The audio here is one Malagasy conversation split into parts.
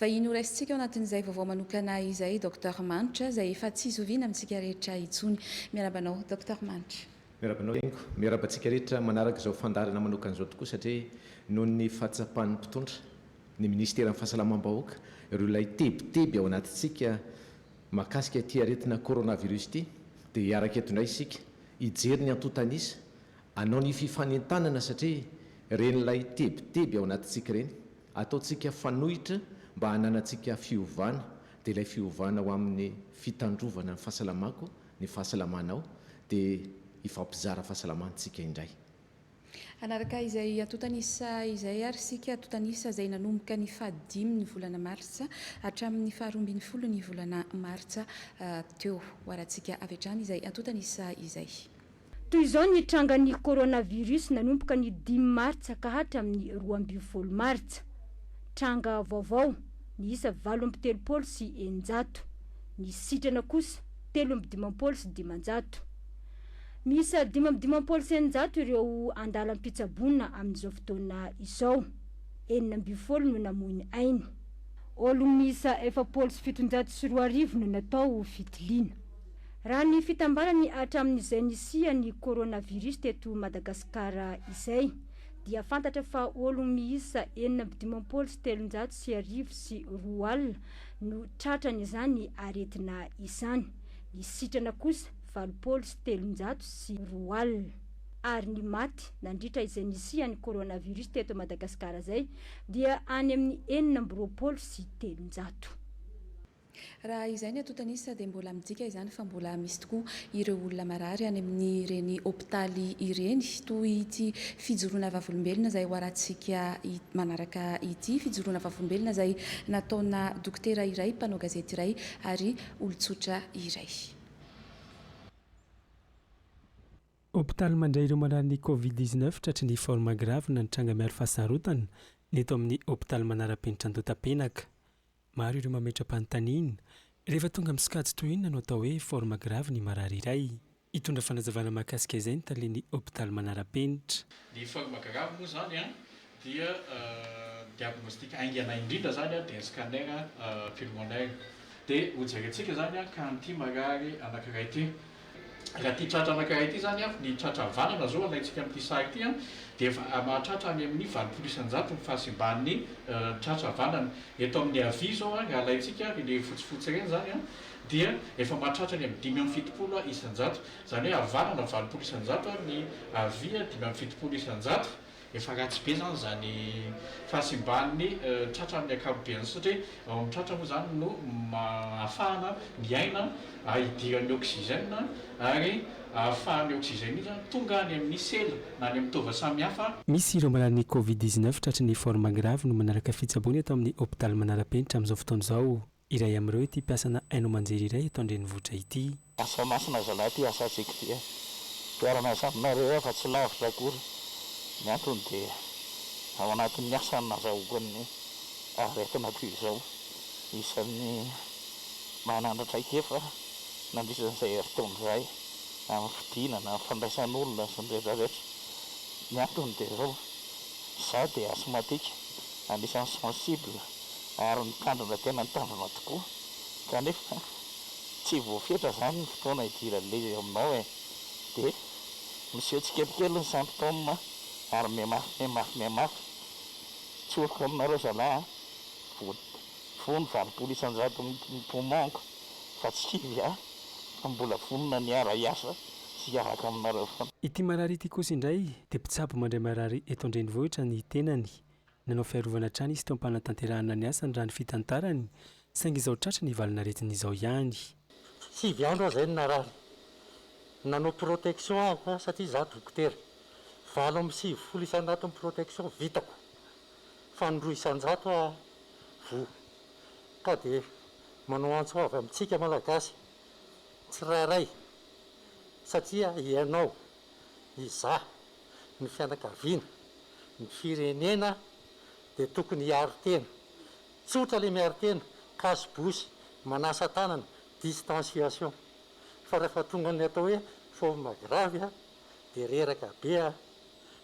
Vahiny ho raisintsika ao anatin'izay vaovao manokana izay Docteur Manitra izay efa tsy zoviana amintsika rehetra intsony. Miarahaba anao Docteur Manitra. Miarahaba anao Hengo. Miarahaba antsika rehetra manaraka izao fandaharana manokana izao tokoa satria noho ny fahatsapan'ny mpitondra, ny Minisiteran'ny Fahasalamam-bahoaka, ireo ilay tebiteby ao anatintsika mahakasika ity aretina Coronavirus ity dia hiaraka eto indray isika hijery ny antontan'isa, hanao ny fifanentanana satria ireny ilay tebiteby ao anatintsika ireny Ataontsika fanohitra mba hananantsika fiovana, dia ilay fiovana ho amin'ny fitandrovana ny fahasalamako, ny fahasalamanao, dia hifampizara fahasalamana tsika indray. Hanaraka izay antontan'isa izay ary isika, antontan'isa izay nanomboka ny fahadimy ny volana martsa hatramin'ny faharoa ambin'ny folo ny volana martsa teo. Hoarantsika avy hatrany izay antontan'isa izay. Toy izao ny trangan'ny coronavirus nanomboka ny dimy martsa ka hatramin'ny roa ambin'ny folo martsa. Tranga vaovao, niisa valo amby telopolo sy eninjato. Ny sitrana kosa, telo amby dimampolo sy dimanjato. Miisa dimy amby dimampolo sy eninjato ireo andalam-pitsaboana amin'izao fotoana izao. Enina ambin'ny folo no namoy ny ainy. Olona miisa efapolo sy fitonjato sy roa arivo no natao fitiliana. Raha ny fitambarany hatramin'izay nisian'ny coronavirus teto Madagasikara izay, dia fantatra fa ologno miisa enina amby dimampolo sy telonjato sy arivo sy roa alina no tratran'izany aretina izany. Ny sitrana kosa valopolo sy telonjato sy roa alina. Ary ny maty nandritra izay nisian'ny coronavirus teto Madagasikara izay dia any amin'ny enina amby roapolo sy telonjato. Raha izay ny antotan'isa dia mbola midika izany fa mbola misy tokoa ireo olona marary any amin'ireny hopitaly ireny. Toy ity fijoroana vavolombelona izay hoarantsika manaraka ity, fijoroana vavolombelona izay nataona dokotera iray, mpanao gazety iray ary olon-tsotra iray. Hopitaly mandray ireo marary ny Covid dix-neuf tratry ny forme grave na ny tranga miaro fahasarotana, ny eto amin'ny hopitaly manarapenitra Antotapenaka. Maro ireo mametra-panontaniana, Rehefa tonga amin'ny sokajy toy inona no atao hoe forme grave ny marary iray? Hitondra fanazavana mahakasika izay ny talen'ny hopitaly manara-penitra. Ny forme grave moa izany dia diagnostic haingana indrindra izany dia ny scanner pulmonaire. Dia hojerentsika izany ka an'ity marary anankiray ity. Raha ity tratra anankiray ity izany avy ny tratra havanana izao alaintsika amin'ity sary ity dia efa mahatratra any amin'ny valopolo isan-jato ny fahasimban'ny tratra havanana. Eto amin'ny havia izao raha alaintsika ary ilay fotsifotsy ireny izany dia efa mahatratra any amin'ny dimy amby fitopolo isan-jato. Izany hoe havanana valopolo isan-jato ary ny havia dimy amby fitopolo isan-jato. Efa ratsy be izany izany fahasimban'ny tratra amin'ny ankapobeny satria ao amin'ny tratra moa izany no ahafahana miaina, hidiran'ny oxygène ary ahafahan'ny oxygène iny izany tonga any amin'ny sela na any amin'ny taova samihafa. Misy ireo malalan'ny Covid dix-neuf tratry ny forme grave no manaraka fitsaboana eto amin'ny hopitaly Manarapenitra amin'izao fotoana izao. Iray amin'ireo ity mpiasana haino aman-jery iray eto an-drenivohitra ity. Lasa masina zalahy ity asantsika ity a! Mpiara-miasa aminareo aho fa tsy lavitra akory, ny antony dia ao anatin'ny asa no nazahoako an'ny aretina toy izao, isan'ny manana traikefa nandritra izay herintaona izay amin'ny fidinana, ny fandraisan'olona sy ny rehetra rehetra, ny antony dia izao, izaho dia asthmatique, anisan'ny sensible. ary ny tanjona tena ny tanjona tokoa kanefa tsy voafetra izany ny fotoana hidiran'ilay eo aminao e! dia miseho tsikelikely ny symptômes ary mihamafy mihamafy mihamafy, tsoriko aminareo zalahy a! vono valopolo isanjato ny poumons-ko fa tsy kivy a! fa mbola vonona ny hiara hiasa sy hiaraka aminareo foana. Ity marary ity kosa indray dia mpitsabo mandray marary eto an-drenivohitra ny tenany Nanao fiarovana hatrany izy teo am-panatanterahana ny asany raha ny fitantarany, saingy izao tratra ny valin'aretina izao ihany. Sivy andro aho izay no narary. Nanao protection aho satria izaho dokotera. Valo amby sivifolo isanjato ny protection vitako fa ny roa isanjato aho voa. Ka dia manao antso avy amintsika Malagasy tsirairay satria ianao Izaho, ny fianakaviana, ny firenena dia tokony hiaro tena. Tsotra ilay miaro tena, cache bouche, manasa tanana, distanciation. Fa rehefa tonga ny atao hoe forme grave dia reraka be,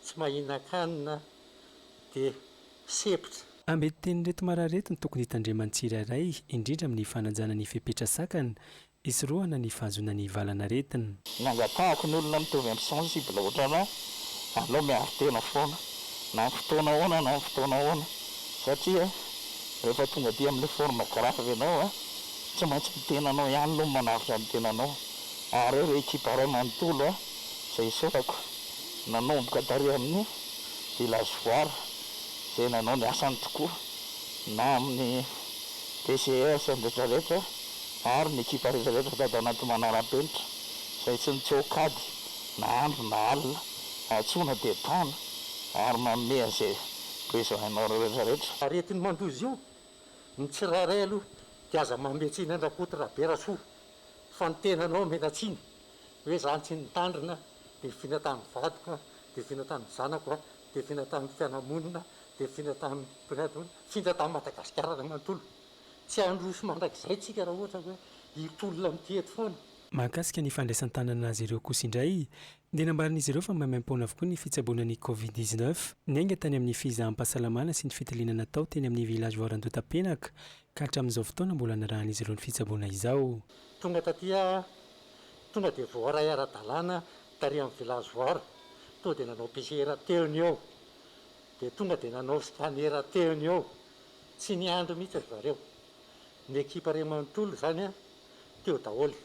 tsy mahinan-kanina dia sempotra. Ambin-tenin'ireto marary ireto no tokony hitandreman'ny tsirairay, indrindra amin'ny fanajana ny fepetra sakana, Hisorohana ny fahazoana ny valan'aretina. Ny angatahako ny olona mitovy am sensible otranao aleo miaro tena foana na am fotoana ahoana na am fotoana ahoana satria rehefa tonga aty amle forme grave enao a tsy maintsy ny tenanao ihany aloha no manavotra ny tenanao ary reo le ekipa ray manontolo a zay isaorako nanomboka tary aminy village voire zay nanao ny asany tokoa na aminy PCS retraretra ary ny ekipa rehetra rehetra sady ao anaty manara-penitra izay tsy mitseho-kady na andro na alina, antsoina dia tana ary manome an'izay besoin anareo rehetra rehetra. Aretin'ny mandoa izy io, ny tsirairay aloha dia aza manome tsiny an-dRakoto Raberasoa fa ny tenanao omena tsiny hoe za tsy nitandrina, devoina tamin'ny vadiko aho, devoina tamin'ny zanako aho, devoina tamin'ny fianamonina, devoina tamin'ny mpiray tamponana, sindra tamin'i Madagasikara ray manontolo. Tsy handroso mandrakizay tsika raha ohatra hoe hitolona amin'ity eto foana. Mahakasika ny fandraisan-tanana azy ireo kosa indray dia nambaran'izy ireo fa maimaim-poana avokoa ny fitsaboana ny covid dix-neuf niainga tany amin'ny fizaham-pahasalamana sy ny fitiliana natao teny amin'ny Village Voarandotapenaka ka hatramin'izao fotoana mbola nirahan'izy ireo ny fitsaboana izao. Tonga taty aho, tonga dia voaray ara-dalàna tary amin'ny Village Voara, tonga dia nanao PCR teo ny eo, dia tonga dia nanao scanner teo ny eo, Tsy niandry mihitsy ry zareo. Ny ekipa ray manontolo izany teo daholo.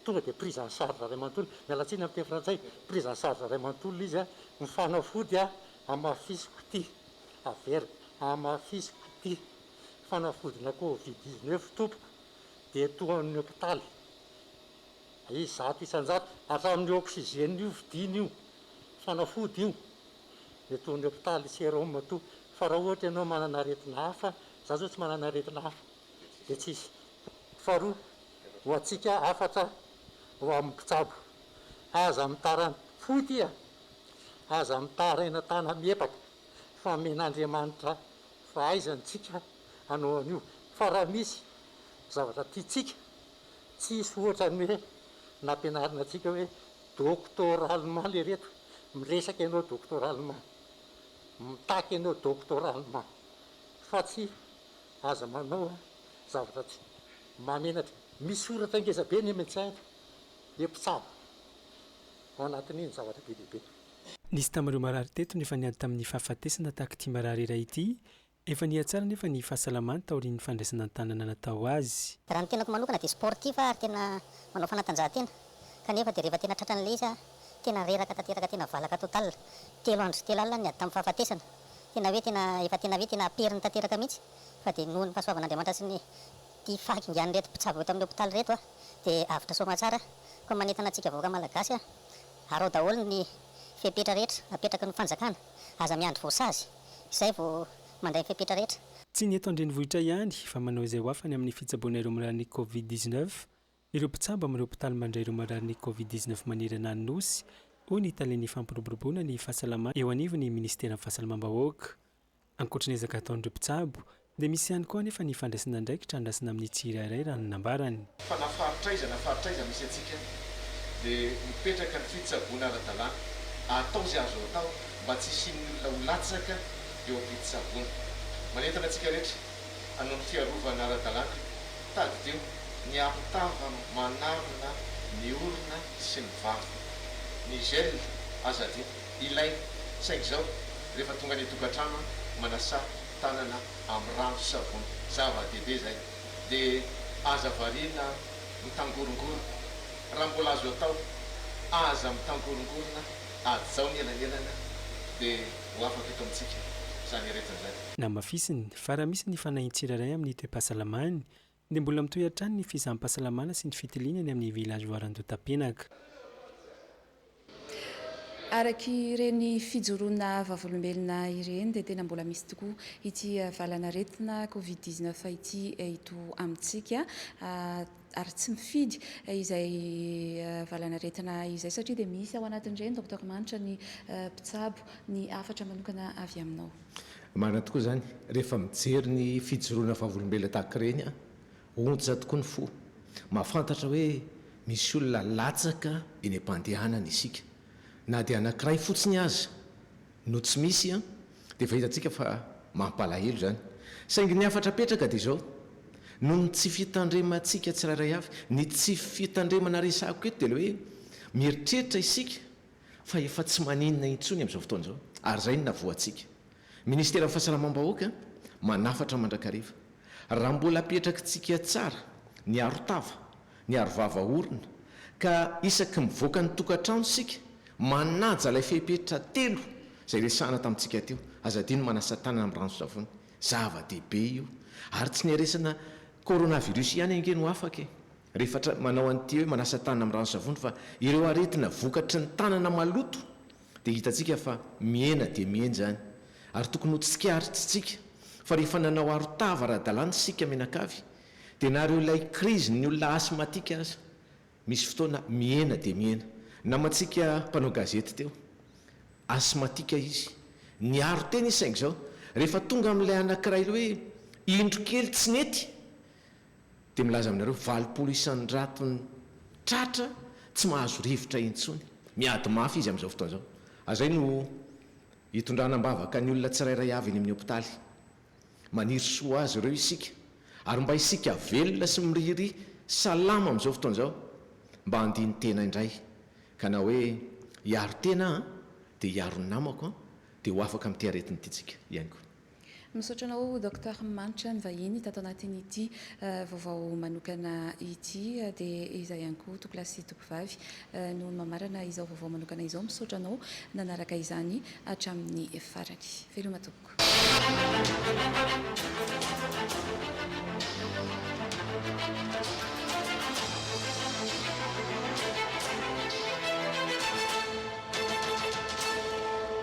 Tonga dia prise en charge ray manontolo. Miala tsiny amin'ny teny frantsay. Prise en charge ray manontolo izy. Ny fanafody hamafisiko ity. Averiko, hamafisiko ity. Fanafodina covid dix neuf tompoko dia toa amin'ny hopitaly. Izato isan-jato. Hatramin'ny oxygène io vidiana io. Fanafody io. Mety ho ny hopitaly serum toa. Fa raha ohatra ianao manana aretina hafa, za zao tsy manana aretina hafa dia tsy hisy. Faharoa, ho antsika hafatra ho amin'ny mpitsabo, aza mitaraina foty a! Aza mitaraina tana-miepaka fa amen'Andriamanitra fahaizana isika hanao an'io. Fa raha misy zavatra tiantsika Tsisy ohatrany hoe nampianarina antsika hoe doctor allemand le reto, miresaka ianao doctor allemand, mitaky ianao doctor allemand fa tsy aza manao zavatra tsy mahamenatra. Misy soratra ngeza be ny medecin eto dia mpitsabo ao anatin'iny zavatra be dia be. Nisy tamin'ireo marary teto nefa niady tamin'ny fahafatesana tahaka ity marary iray ity Efa nihatsara anefa ny fahasalamany taorian'ny fandraisana an-tanana natao azy. Raha ny tenako manokana dia sportif aho ary tena manao fanatanjahantena kanefa dia rehefa tena tratran'ilay izy aho tena reraka tanteraka tena valaka total, telo andro sy telo alina ny ady tamin'ny fahafatesana, tena hoe tena efa tena hoe tena aperiny tanteraka mihitsy fa dia nohon'ny fahasoavan'Andriamanitra sy ny ity fahakingan'ireto mpitsabo eto amin'ny hopitaly ireto aho dia avotra soamatsara, koa manentana antsika vahoaka malagasy aho, arao daholo ny fepetra rehetra apetraky ny fanjakana. Aza miandry voasazy, izay vao mandray ny fepetra rehetra. Tsy ny eto an-drenivohitra ihany fa manao izay ho afany amin'ny fitsaboana ireo marary ny Covid dix neuf ireo mpitsabo amin'ireo hopitaly mandray ireo marary ny Covid dix neuf manerana ny Nosy, hoy ny talen'ny fampiroboroboana ny fahasalamana eo anivon'ny minisiteran'ny Fahasalamam-bahoaka. Ankoatra ny ezaka ataon'ireo mpitsabo Dia misy ihany koa anefa ny fandraisana andraikitra andrasana amin'ny tsirairay raha ny nambarany. Fa na faritra aiza na faritra aiza misy antsika dia mipetraka ny fitsaboana ara-dalàna. Atao izay azo atao mba tsy hisian'ny olona ho latsaka eo am-pitsaboana. Manentana antsika rehetra hanao ny fiarovana ara-dalàna, tadidio ny arotava manarona ny orona sy ny vava. Ny gel aza adino, ilaina, saingy izao rehefa tonga any an-tokantrano aho, manasaha tanana amin'ny rano sy savony, zava dehibe zay, de aza variana mitangorongorona, raha mbola azo atao aza mitangorongorona, ajao ny elanelana de ho afaka eto amintsika zany aretina zany. Namafisiny fa raha misy ny fanahin'ny tsirairay amin'ny toe-pahasalamany Dia mbola mitohy hatrany ny fisaham-pahasalamana sy ny fitiliana eny amin'ny villageoire Andotapenaka. Araka ireny fijoroana vavolombelona ireny dia tena mbola misy tokoa ity valan'aretina covid dix neuf ity eto amintsika ary tsy mifidy izay valan'aretina izay satria dia misy ao anatin'ireny Docteur Manitra ny mpitsabo ny hafatra manokana avy aminao. Marina tokoa izany, rehefa mijery ny fijoroana vavolombelona tahaka ireny aho, ontsa tokoa ny fo. Mahafantatra hoe misy olona latsaka eny am-pandehanana isika. Na dia anankiray fotsiny aza no tsy misy dia efa hitantsika fa mampalahelo izany. Saingy ny hafatra apetraka dia izao, noho ny tsy fitandremantsika tsirairay avy. Ny tsy fitandremana resahako eto dia ilay hoe mieritreritra isika fa efa tsy maninona intsony amin'izao fotoana izao ary izay no navoantsika. Ministeran'ny Fahasalamam-bahoaka manafatra mandrakariva. Raha mbola apetrakintsika tsara ny arotava, ny arovava orona ka isaky mivoaka ny tokantrano isika manaja ilay fepetra telo izay resahana tamintsika teo, aza adino manasa tanana amin'ny ranon-tsavony, zava-dehibe io. Ary tsy ny resana coronavirus ihany ange no afaka e! Rehefa tra, manao an'ity hoe manasa tanana amin'ny ranon-savony fa ireo aretina vokatry ny tanana maloto dia hitantsika fa mihena dia mihena izany ary tokony ho tsikaritrintsika fa rehefa nanao arotava ara-dalàna isika mianakavy dia na ireo ilay crise ny olona asthmatique aza misy fotoana mihena dia mihena. Namantsika mpanao gazety teo asthmatique izy niaro tena izy saingy izao rehefa tonga amin'ilay anankiray hoe indro kely tsy nety Dia milaza aminareo valopolo isan-jatony tratra tsy mahazo rivotra intsony. Miady mafy izy amin'izao fotoana izao. Azay no hitondrana am-bavaka ny olona tsirairay avy eny amin'ny hopitaly. Maniry soa ho azy ireo isika, ary mba isika velona sy mirihiry salama amin'izao fotoana izao, mba handini-tena indray. Ka na hoe hiaro tena aho, dia hiaro ny namako, dia ho afaka amin'ity aretina ity tsika, hihaino koa. Misaotra anao Docteur Manitra nivahiny tato anatin'ity vaovao manokana ity dia iza ihany koa Tompolahy sy Tompovavy no mamarana izao vaovao manokana izao. Misaotra anao nanaraka izany hatramin'ny farany. Veloma tompoko.